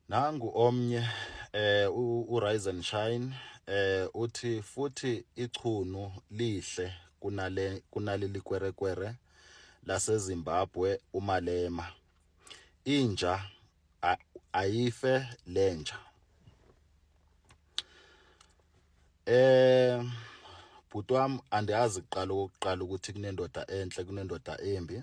nangu omnye eh uRizen Shine eh uthi futhi ichunu lihle kunale kunaleli kwerekwere laseZimbabwe uMalema inja ayife lenja eh bhuti wami andiyazi kuqala ukuqala ukuthi kunendoda enhle kunendoda embi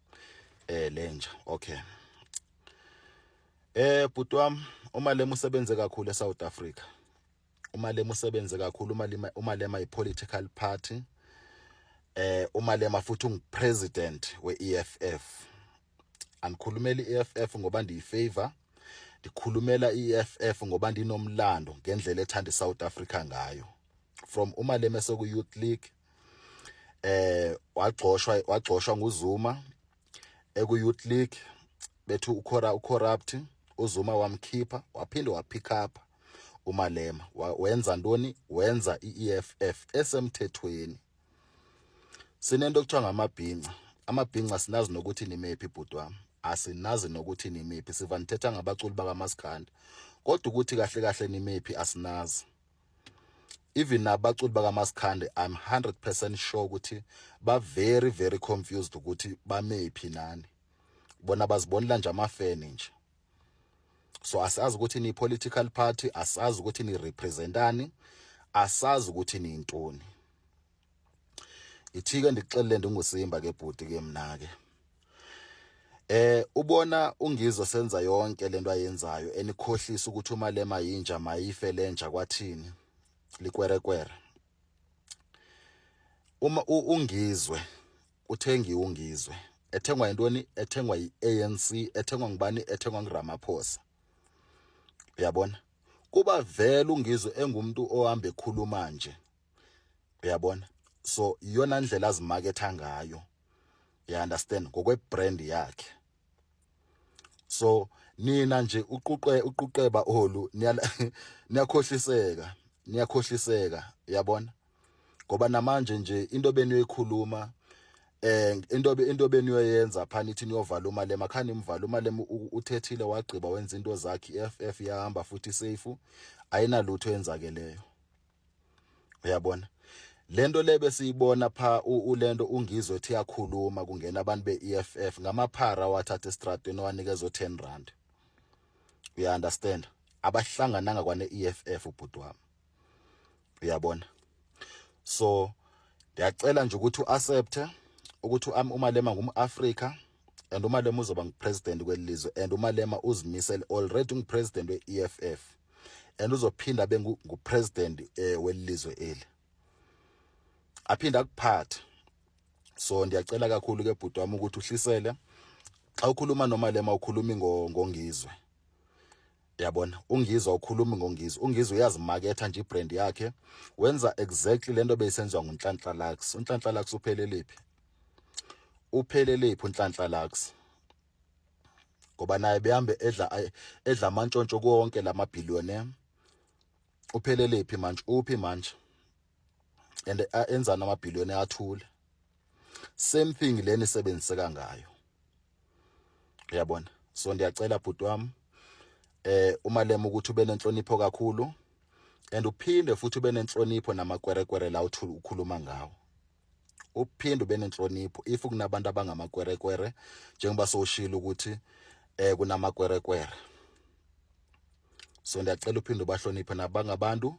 eh lenja okay eh bhuti wam uma lema usebenze kakhulu eSouth Africa uma lema usebenze kakhulu uma lema uma lema ipolitical party eh uma lema futhi ungupresident weEFF angikhulumeli iEFF ngoba ndiyifavor ndikhulumela iEFF ngoba ndinomlando ngendlela ethanda iSouth Africa ngayo from uma lema seku youth league eh wagxoshwa wagxoshwa nguZuma eku Youth League bethu ukhora ucorrupt uZuma wamkhipha waphinde wapick up uMalema wenza ntoni wenza iEFF esemthethweni sinento okuthiwa ngamabhinca amabhinca sinazi nokuthi nimephi bhuti wami asinazi nokuthi nimephi siva nithetha ngabaculi bakamaskanda kodwa ukuthi kahle kahle nimephi asinazi even abaculi bakamaskande i'm 100% sure ukuthi ba very very confused ukuthi bamephi nani bona bazibonela nje amafeni nje so asazi ukuthi ni political party asazi ukuthi ni representani asazi ukuthi ni intoni ithike ndikuxelele ndingusimba ke bhuti ke mna ke Eh ubona ungizwe senza yonke lento ayenzayo enikhohlisa ukuthi uma lema yinja mayife lenja kwathini likwerekwere Uma ungizwe uthengi ungizwe ethengwa yintoni ethengwa yiANC ethengwa ngubani ethengwa nguRamaphosa uyabona kuba vele ungizwe engumuntu ohamba ekhuluma nje uyabona so iyona ndlela azimaketha ngayo you understand ngokwe brand yakhe so nina nje uquqe uquqeba olu niyakhohliseka niyakhohliseka uyabona ngoba namanje nje into beniyoyikhuluma eh into into beniyoyenza phana ithi niyovala umali emakhani imvala umali uthethile wagqiba wenza into zakhe iFF yahamba futhi safe ayinalutho yenzakeleyo uyabona lento le besiyibona pha ulento ungizwe ethi yakhuluma kungena abantu be-EFF ngamaphara wathatha estradweni wanikeza o10 rand uya understand abahlangananga kwane EFF ubhuti wami uyabona so ndiyacela nje ukuthi uaccepte ukuthi umalema ngumAfrika and umalema uzoba ngupresident kwelizwe and umalema uzimisele already ungupresident weEFF and uzophinda abe ngupresident eh, welizwe eli aphinde akuphathe so ndiyacela kakhulu ke bhuti wami ukuthi uhlisele xa ukhuluma noma lema ukhulumi ngongizwe yabona ungizwa ukhulumi ngongizwe ungizwe uyazimaketha nje ibrand yakhe wenza exactly lento beyisenziwa ngunhlanhla lax unhlanhla lax upheleliphi upheleliphi unhlanhla lax ngoba naye behambe edla edla amantshontsho konke lama billionaire uphelelephi manje uphi manje and enzana ama billionaire athule same thing leni sebenziseka ngayo uyabona so ndiyacela bhuti wami eh umalema ukuthi ube nenhlonipho kakhulu and uphinde futhi ube nenhlonipho namakwerekwere la ukhuluma ngawo uphinde benenhlonipho if kunabantu abangamakwerekwere njengoba soshilo ukuthi eh kunamakwerekwere so ndiyacela uphinde ubahloniphe nabangabantu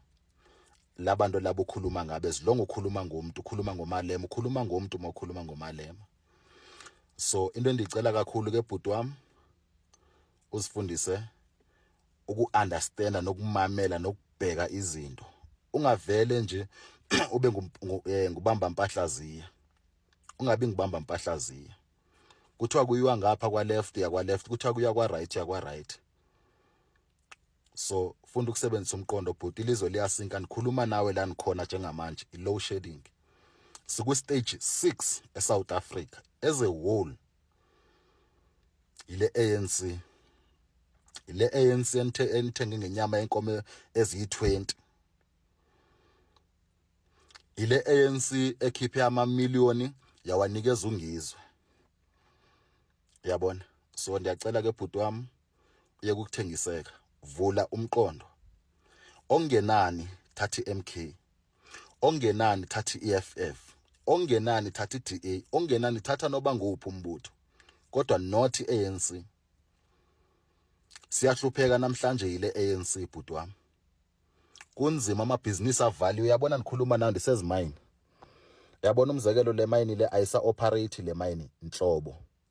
labantu labo ukhuluma ngabe ezilongo ukhuluma ngomuntu ukhuluma ngomalema ukhuluma ngomuntu uma ukhuluma ngomalema so into endicela kakhulu ke bhuti wami usifundise uku-understanda nokumamela nokubheka izinto ungavele nje ube eh, ngubamba mpahlaziya ungabi ngibamba mpahlaziya kuthiwa kuyiwa ngapha kwa left ya kwa left kuthiwa kuya kwa right ya kwa right so funda ukusebenzisa umqondo bhuti ilizwe liyasinka nikhuluma nawe la nikhona njengamanje i-low shedding siku-stage 6 e-south africa as a whole yile ANC le ANC enithenge ngenyama yenkomo eziyi-20 yile ANC ekhiphe amamiliyoni yawanikeza ungizwe yabona so ndiyacela ke bhuti wami yokuthengiseka vula umqondo ongenani thathi MK ongenani thathi EFF ongenani thathi DA ongenani thatha noba nguphi umbutho kodwa not ANC siyahlupheka namhlanje yile ANC bhuti wami kunzima amabhizinisi avaliwe uyabona nikhuluma nayo ndisezimayini yabona umzekelo le mayini le ayisa operate le mayini nhlobo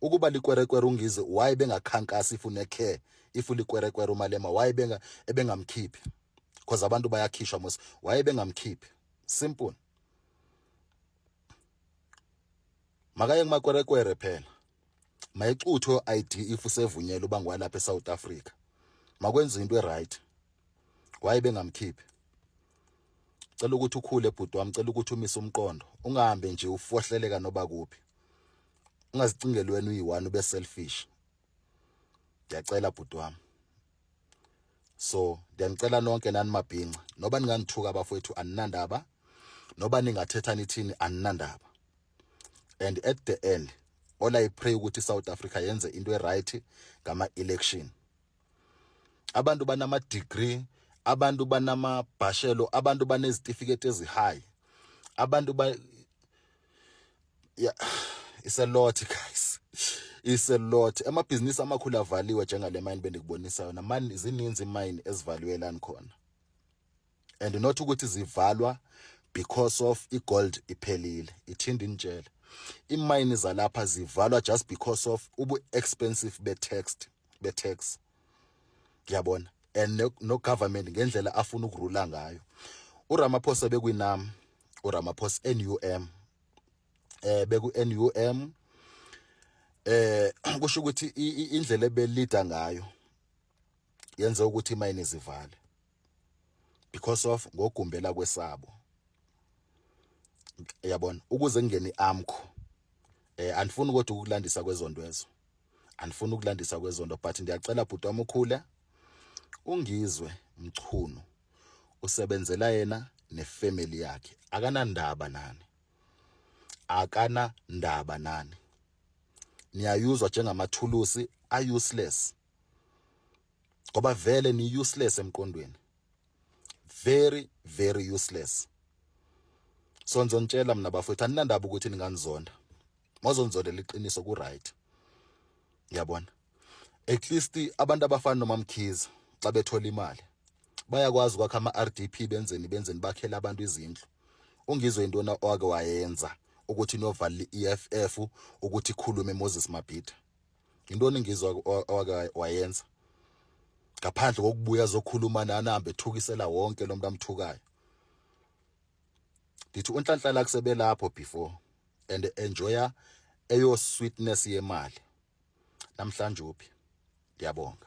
ukuba likwerekwere ungize why bengakhankasi if une care if likwerekwere umalema why benga ebengamkhiphi because abantu bayakhishwa mos why bengamkhiphi simple makaye kumakwerekwere phela mayexuthwe ID if usevunyelwe uba ngwalapha eSouth Africa makwenza into eright why bengamkhiphi cela ukuthi ukhule bhuti wami cela ukuthi umise umqondo ungahambe nje ufohleleka noba kuphi ungazicingeli wena uyi-one ube selfish ndiyacela bhuti wami so ndiyanicela nonke nani mabhinca noba ningangithuka abafowethu aninandaba noba ningathetha nithini aninandaba and at the end all i pray ukuthi i-south africa yenze into e-right ngama-election abantu banama degree abantu banama bhashelo abantu banezitifiketi ezi high abantu ba yeah it's a lot guys it's a lot amabhizinisi amakhulu avaliwe njengalemine bendikubonisa yona mani zininzi imine ezivaliwe lani khona and not ukuthi zivalwa because of igold iphelile ithinda initshela imayini zalapha zivalwa just because of ubu expensive be text be tax yabona and no, no government ngendlela afuna ukurula ngayo uRamaphosa bekwinam uRamaphosa NUM eh beku NUM eh kusho ukuthi indlela ebelida ngayo yenze ukuthi imayini zivale because of ngogumbela kwesabo yabona ukuze kungene iamkho eh andifuni ukuthi ukulandisa kwezonto ezo andifuni ukulandisa kwezonto but ndiyacela bhuti wami ukhule ungizwe mchunu usebenzela yena nefamily yakhe akanandaba nani akana ndaba nani niyayuzwa njengamathulusi a useless ngoba vele ni useless emqondweni very very useless so ngizontshela mina bafowethu aninandaba ukuthi ninganizonda mozonzondela iqiniso ku right ngiyabona at least abantu abafana nomamkhiza xa bethola imali bayakwazi ukwakha ama-rdp benzeni benzeni bakhele abantu izindlu ungizwe into owake wayenza ukuthi novalile i-eff ukuthi ikhulume moses mabhida Yintoni ngizwa owake wayenza? Ngaphandle kokubuya zokhuluma nani ahambe ethukisela wonke lo muntu amthukayo. Ndithi unhlanhlala kusebelapho before and enjoya eyo sweetness yemali. Namhlanje uphi? Ndiyabonga.